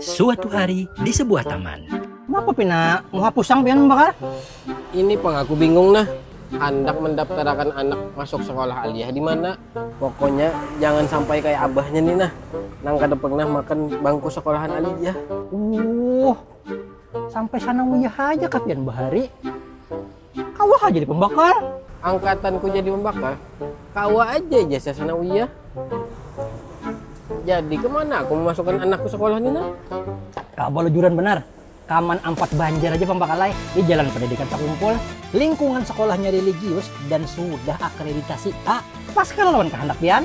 Suatu hari di sebuah taman. Napa pina muhapusang pian Bakar? Ini pang aku bingung nah, handak mendaptarakan anak masuk sekolah aliyah dimana. Pokoknya jangan sampai kaya abahnya ni nah, nang kada pernah makan bangku sekolahan aliyah. Uuhh, sampai sana wiyah haja kah pian bahari? kawa ha jadi pambakal angkatan ku jadi pambakal kawa aja ijazah sanawiyah jadi kemana aku memasukkan anakku sekolah ni nah kawa balajuran banar kaman ampat banjar aja pambakal ai di jalan pendidikan sakumpul lingkungan sekolahnya religius dan sudah akreditasi A pas kah lawan kahandak pian.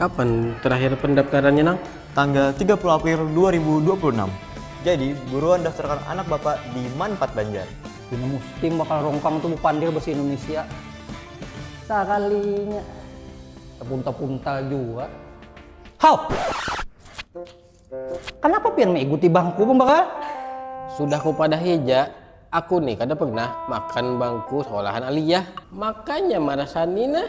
Kapan terakhir pendaptarannya nang? Tanggal tiga puluh April dua ribu dua puluh enam. Jadi buruan daftarkan anak bapak di Manpat Banjar. Pina mustim bakal rongkang tu bapandir basa Indonesia sakalinya. Tapunta-punta jua. Haw! Kanapa pian maiguti bangku pambakal? Sudah kupadahi ja, aku ni kada pernah makan bangku sekolahan Aliyah. Makanya marasani nah.